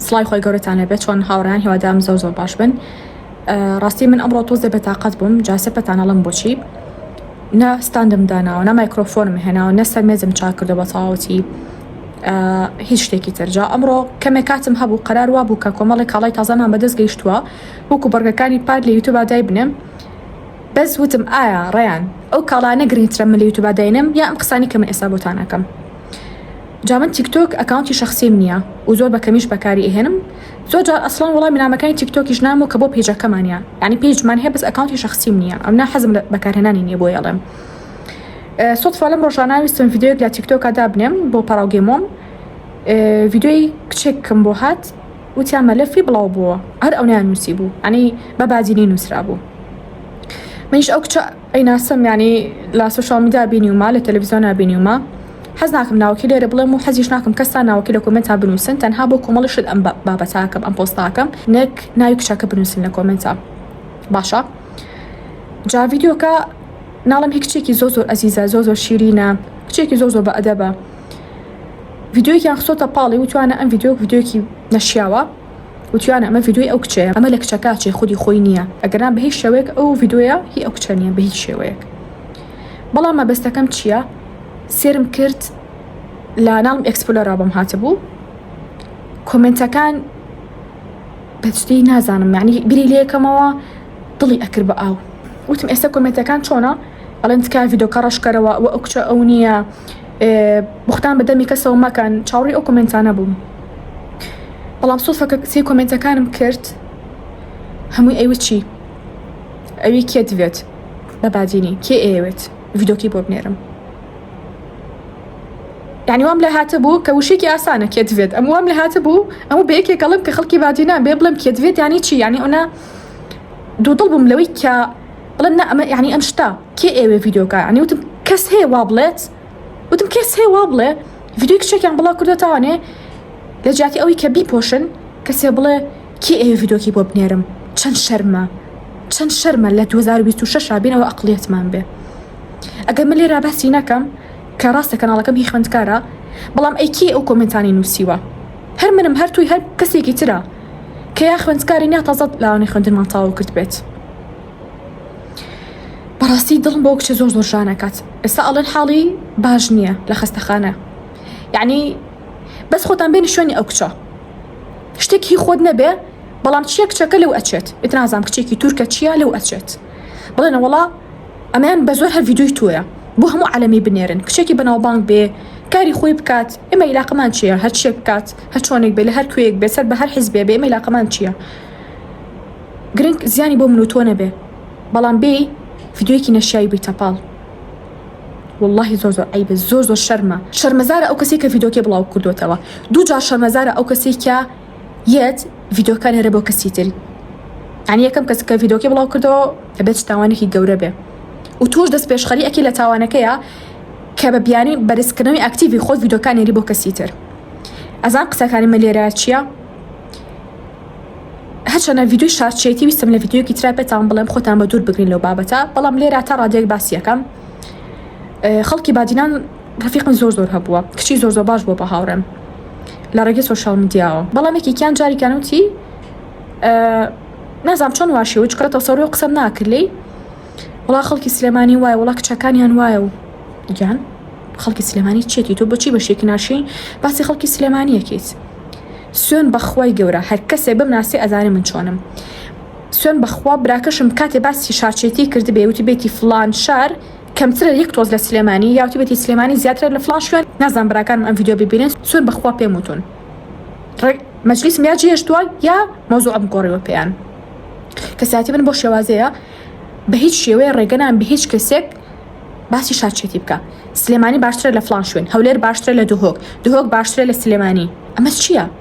سڵاوی خۆی گەورەتان لەبێت چۆن هاوڕیان هیوادام زۆر زۆر باش بن ڕاستی من ئەمڕۆ تۆزێ بەتاقەت بووم جاسە پەتانەڵم بۆچی نە ستاندم داناوە نە مایکرۆفۆنم هێناوە نە سەرمێزم چاک کردو بە تەواوەتی هیچ شتێکی ترجا ئەمڕۆ کەمێک کاتم هەبوو قەرار وا بوو کە کۆمەڵی کاڵای تازانان بەدەست گەیشتووە وەکو بڕگەکانی پار لە یوتوب دای بنێم بەس وتم ئایا ڕیان ئەو کاڵانە گرنگترە من لە یوتوب داینم یا ئەم قسانی کە من ئێستا بۆتانەکەم جا من تیکتۆک ئەکاونتی شخصیم نییە و زۆر بەکەمیش بەکاری ئەهێنم زۆر جار ئەسڵان وڵامی نامەکانی تیکتۆکیش نام و کە بۆ پێجەکەمانە ینی پێجمان هەیە بەس ئەکاونتی شخصیم نییە ئەم نا حەزم بەکارهێنانی نییە بۆ یاڵێم سوفا لەم ڕۆژانناویستم یددیوک لە تیکتۆکە دابنێم بۆ پاراوگەمۆم یددیوی کچێکم بۆ هات وتیان مەلەفی بڵاو بووە هەر ئەو نیان نووسی بوو ئەنی بە بادینی نووسرا بوو منیش ئەو کچە ئەی ناسم یعنی لە سوشال میدیا بینیومە لە تەلەڤیزیۆنا بینیومە حەز ناکەم ناوەکی لێرە بڵێم و حەزیش ناکەم کەسا ناوەکی لە کۆمێنتا بنووسن تەنها بۆ کۆمەڵی شت ئەم بابەتاکەم ئەم پۆستاکەم نەک ناوی کچەکە بنووسن لە کۆمنتا باشە جا ڤیددیوکە ناڵم هی کچێکی زۆ زۆر ئەزیزە زۆ زۆر شیرینە کچێکی زۆ زۆ بە ئەدەبە ڤیددیوکیان خسۆتە پاڵی وتوانە ئەم ڤیددیوک ڤیددیوکی نەشیاوە وتیانە ئەمە ڤیدۆی ئەو کچەیە ئەمە لە کچە کاچێ خودی خۆی نییە ئەگەرنا بە هیچ شێوەیەک ئەو ڤیدۆیە هی ئەو کچە نییە بە هیچ شێوەیەک بەڵام مەبەستەکەم چییە سێرم کرد لە ناڵم ئەکسپلۆرا بەم هاتبوو کۆمنتەکان بەچدەی نازانم معنی بری لەکەمەوە دڵی ئەکرد بە ئاو وتم ئێستا کۆمنتەکان چۆنە ئەڵێن تکایە ڤیدۆکە ڕەشکەرەوە ئەوە ئەو کچە ئەو نییە بختان بە دەمی کەسەوە مەکەن چاوڕی ئەو کمنتانە بووم بەڵام سۆفەکە سی کۆمنتەکانم کرد هەمووی ئەوی چی ئەوی کێ دەوێت بە بادینی کێ ئەوێت ڤیدۆکی بۆ بنێرم یعنی وام لە هاتە بوو کە وشێکی ئاسانە کێ دەوێت ئەم وام لە هاتە بوو ئەو بە یەکێکەڵم کە خەڵکی بادینان بێ بڵم کێ دەوێت ینی چی ینی ئەوە دوو دڵ بووم لەوەی کە بڵێن نا ئەمە یعنی ئەم شتە کێ ئێوێ ڤیددیو بکە عنی وتم کەس هەیە وا بڵێت وتم کەس هەیە وا بڵێ ڤیددیو کچێکیان بڵاو کردو تاوانێ لە جیاتی ئەوەی کە بیپۆشن کەسێ بڵێ کێ ئێوێ ڤیددیوکی بۆ بنێرم چەند شەرمە چەند شەرمە لە 2026 بینەوە ئەقلیەتمان بێ ئەگەر من لێرا باسی نەکەم کە ڕاستە کەناڵەکەم هی خوێندکارە بەڵام ئەیکی ئەو کۆمنتانی نووسیوە هەر منم هەر توی هەر کەسێکی ترە کە یا خوێندکاری نیا تازە لاوانی خوێندنمان تاو کرد بێت بەڕاستی دڵم بۆ کچە زۆر زۆر ژانەکات ئێستا ئەڵێن حاڵی باش نییە لە خەستەخانە یعنی بەس خۆتان بێنی شوێنی ئەو کچە شتێک هی خۆت نەبێ بەڵام چیە کچەکە لەو ئەچێت ئتنازام کچێکی تورکە چیە لەو ئەچێت بڵێنە وڵا ئەمەیان بەزۆر هەر ڤیدۆی تۆیە بۆ هەموو عالەمی بنێرن کچێکی بەناوبانگ بێ کاری خۆی بکات ئێمە عیلاقەمان چیە هەر چێک بکات هەر چۆنێک بێ لە هەر کوێیەک بێ سەر بە هەر حیزبێ بێ ئێمە عیلاقەمان چیە گرنگ زیانی بۆ من و تۆ نەبێ بەڵام بێ ڤیدۆیەکی نەشیایی بی تەپاڵ واللهی زۆر زۆر عیبە زۆر زۆر شەرمە شەرمەزارە ئەو کەسێک کە ڤیدۆکێ بڵاو کردوێتەوە دوو جار شەرمەزارە ئەو کەسێک کە یەت ڤیدۆکان هێرە بۆ کەسی تری یعنی یەکەم کەس کە ڤیدۆکی بڵاو کردەوە دەبێت تاوانێکی گەورە بێ و توش دەست پێشخەری ئەکی لە تاوانەکەیە کە بە بیانی بەرزکردنەوەی ئاکتیوی خۆت ڤیدۆکان هێری بۆ کەسی تر ئەزان قسەکانی مە لێرە چییە؟ هەچەنە ڤیددیوی شارچێتی ویستم لە ڤیددیوکی تررا پێتان بڵێم خۆتان بە دوور بگرین لەو بابەتە بەڵام لێرا تا ڕادێک باسیەکەم خەڵکی بادینان ڕەفیقم زۆر زۆر هەبووە کچی زۆر زۆر باش بووە بە هاوڕێم لە ڕێگەی سۆشیال میدیاوە بەڵام یەکێکیان جاریکان وتی نازام چۆن واشی و چکاتە سەڕۆ قسەم ناکرد لی وڵا خەڵکی سلێمانی وایە وڵا کچەکانیان وایە و گیان خەڵکی سلێمانی چێتی تۆ بچی بە شێکی ناشین باسی خەڵکی سلێمانیەکەیت سوێن بەخوای گەورە هەر کەسێ بم ناسی ئەزانێ من چۆنم سوێن بەخوا براکەشم کاتێ باسی شارچێتی کرد بێوتی بێتی فلان شار کەمترە یەک تۆز لە سلێمانی یاوتی بەتی سلێمانی زیاترە لە فلان شوێن نازان براکانم ئەم یددیو ببینن سوێن بەخوا پێم وتون مەجلیسم یا جێشتووە یا مەوزوعم گۆڕیوە پێیان کەساتی من بۆ شێوازەیە بە هیچ شێوەیە ڕێگەنان بە هیچ کەسێک باسی شارچێتی بکە سلێمانی باشترە لە فلان شوێن هەولێر باشترە لە دهۆک دهۆک باشترە لە سلێمانی ئەمە چییە؟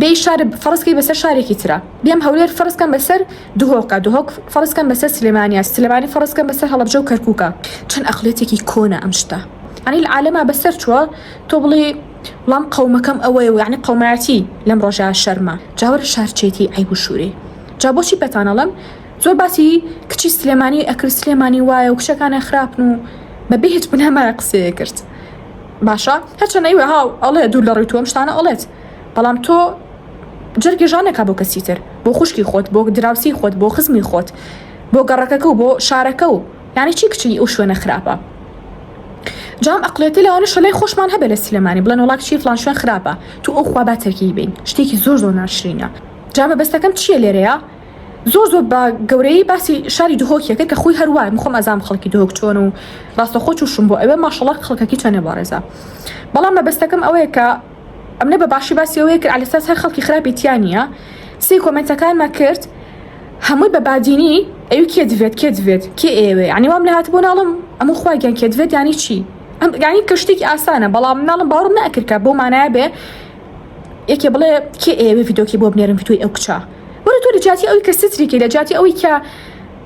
بێی شار فەرزکەی بەسەر شارێکی ترا بێم هەولێر فەرزکەم بەسەر دهۆکە دهۆک فەرزکەم بەسەر سلێمانیا سلێمانی فەرزکەم بەسەر هەڵبجە و کەرکووکە چەند ئەقلێتێکی کۆنە ئەم شتە ئەنی عالەما بەسەر چووە تۆ بڵێ وڵام قەومەکەم ئەوەیە و یعنی قەومایەتی لەم ڕۆژە شەرمە جاوەرە شارچێتی ئەی بشووری جا بۆچی پێتانەڵم زۆر باسی کچی سلێمانی ئەکرد سلێمانی وایە و کچەکانە خراپن و بەبێ هیچ بنەمایە قسەیە کرد. باشە هەرچەنە ی وەهاو ئەڵێ دوور لە ڕوی تۆ ئەم شتانە ئەڵێت بەڵام تۆ جەرگی ژان نەکە بۆ کەسی تر بۆ خوشکی خۆت بۆ دراوسی خۆت بۆ خزمی خۆت بۆ گەڕەکەکە و بۆ شارەکە و یانی چی کچی ئەو شوێنە خراپە جام ئەقلێتی لەوانە شەلای خۆشمان هەبێ لە سلێمانی بڵێن وڵات چی فلان شوێن خراپە تو ئەو خوا با تەرکی بین شتێکی زۆر زۆر ناشرینە جا مەبەستەکەم چییە لێرەیە زۆر زۆر بە گەورەی باسی شاری دهۆکیە کرد کە خۆی هەروای مخۆم ئەزام خەڵکی دهۆک چۆن و ڕاستە خۆ چوشم بۆ ئەوێ ماشەڵە خەڵکەکی چەنێ بەڕێزە بەڵام مەبەستەکەم ئەوەیە کە ئەمنە بە باشی باسی ئەوەیە کرد لەساس هەر خەڵکی خراپی تیانە سی کۆمنتەکانمە کرد هەمووی بە بادینی ئەو کێ دەێت کێ دەێت کێ ئێوێ ینی وام لە هاات بۆ ناڵم ئەمە خواگەن کێ دەێت ینی چی ئەم گانی کە شتێکی ئاسانە بەڵام ناڵم باوەڕم نەکردکە بۆ مانایە بێ یەکێ بڵێ کێ ئێوێ یددیوکی بۆ بنێرم توی ئەو کچە وەرە تۆ لە جیاتی ئەوی کە ستری کەی لە جیاتی ئەوی کە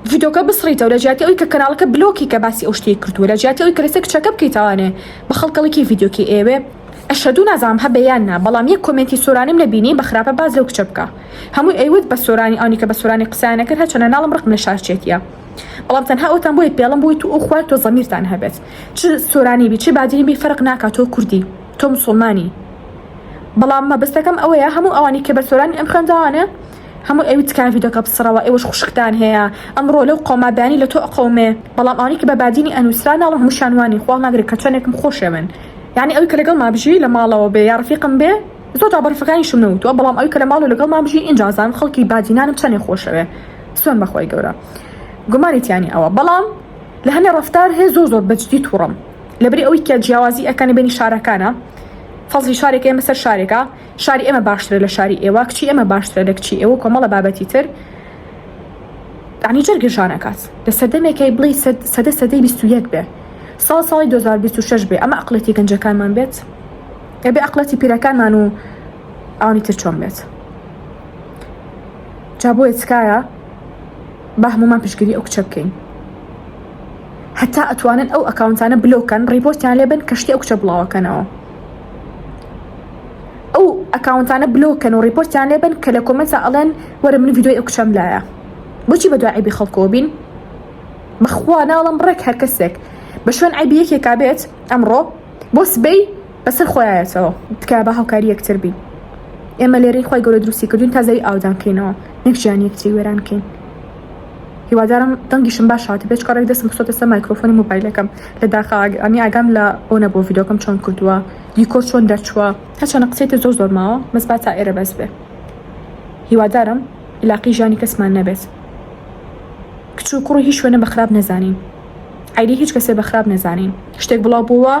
ڤیدۆکە بسڕیتەوە لە جیاتی ئەوی کە کەناڵەکە بلۆکی کە باسی ئەو شتێک کردووە لە جیاتی ئەوی کە لەسەر کچەکە بکەیتەوانێ بە خەڵکەڵکی ڤیدۆکی ئێوێ ئەشەدوو نازانم هەبێ یان نا بەڵام یەک کۆمێنتی سۆرانیم نەبینی بە خراپە باز لەو کچە بکە هەمووی ئەیوت بە سۆرانی ئەونی کە بە سۆرانی قسەیان نەکرد هەرچەنە ناڵم ڕقم لە شارچێتیە بەڵام تەنها ئەوتان بۆی پێڵم بووی تو ئەو خوای تۆ زەمیرتان هەبێت چ سۆرانی بی چ بادینی بی فەرق ناکات تۆ کوردی تۆ مسوڵمانی بەڵام مەبەستەکەم ئەوەیە هەموو ئەوانی کە بە سۆرانی ئەم خوێنداوانە هەموو ئەوی تکان ڤیدۆکە بسڕەوە ئێوەش خوشکتان هەیە ئەمڕۆ لەو قۆما بەیانی لە تۆ ئەقەومێ بەڵام ئەوانی کە بە بادینی ئەنووسرا ناڵم هەموو شانوانی خوا ناگرێ کە چەندێکم خۆشەوێن یعنی ئەوی کە لەگەڵ مابژی لە ماڵەوە بێ یا ڕفیقم بێ زۆر جا بەڕفەکانی شم نەوتوە بەڵام ئەوی کە لە ماڵ و لەگەڵ مابژی ئینجازان خەڵکی بادینانم چەندێ خۆشەوێ سۆن بەخوای گەورە گومانی تیانی ئەوە بەڵام لە هەنێ ڕفتار هەیە زۆر زۆر بەجدی توڕم لەبری ئەوەی کە جیاوازی ئەکەن لە بینی شارەکانا فەزلی شارێک ئێمە سەر شارێکە شاری ئێمە باشترە لە شاری ئێوە کچی ئێمە باشترە لە کچی ئێوە کۆمەڵە بابەتی تر عنی جەرگژانەکات لە سەردەمێکی بڵی سەدە سەدەی 21 بێ ساڵ ساڵی 2026 بێ ئەمە ئەقلەتی گەنجەکانمان بێت ئەبێ ئەقلەتی پیرەکانمان و ئەوانی تر چۆن بێت جا بۆیە تکایە با هەمومان پشگیری ئەو کچە بکەین هەتا ئەتوانن ئەو ئەکاونتانە بلۆک کەن ڕیپۆرتیان لێ بن کە شتی ئەو کچە بڵاوەکەنەوە ئەو ئەکاونتانە بلۆک کەن و ڕیپۆرتیان لێ بن کە لە کۆمەنتا ئەڵێن وەرە من ڤیدیۆی ئەو کچەم لایە بۆچی بە دوای عیبی خەڵکەوە بین بەخوا ناڵم ڕێک هەر کەسێک بە شوێن عیبی یەکێکا بێت ئەمڕۆ بۆ سبەی بەسەر خۆیایەتەوە تکا بە هاوکاری یەکتر بین ئێمە لێرەی خۆی گەورە دروستی کردوین تا زەوی ئاودان کەینەوە نەکشیان یەکتری وێران کەین هیوادارم دەنگیشم باش هات بێ چکە ڕێک دەسم خستۆتە سە مایکرۆفۆنی موبایلەکەم لە داخا ئەنی ئاگام لە ئەو نەبوو ڤیدۆکەم چۆن کردووە دیکۆر چۆن دەرچووە هەچەنە قسەی تر زۆر زۆر ماوە بەس با تا ئێرە بەس بێ هیوادارم علاقی ژانی کەسمان نەبێت کچ و کوڕی هیچ شوێنە بە خراپ نەزانین ئایدی هیچ کەسێ بە خراپ نەزانین شتێک بڵاو بووە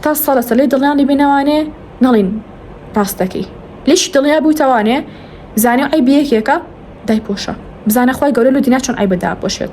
تا سەڵەسە لێ دڵیان دەبینەوانێ نەڵین ڕاستەکەی لەش دڵیا بوویتەوانێ زانیو عەیب یەکێکە دایپۆشە. بزانە خوای گەورە لۆ دینا چۆن عەیبت داپۆشێت.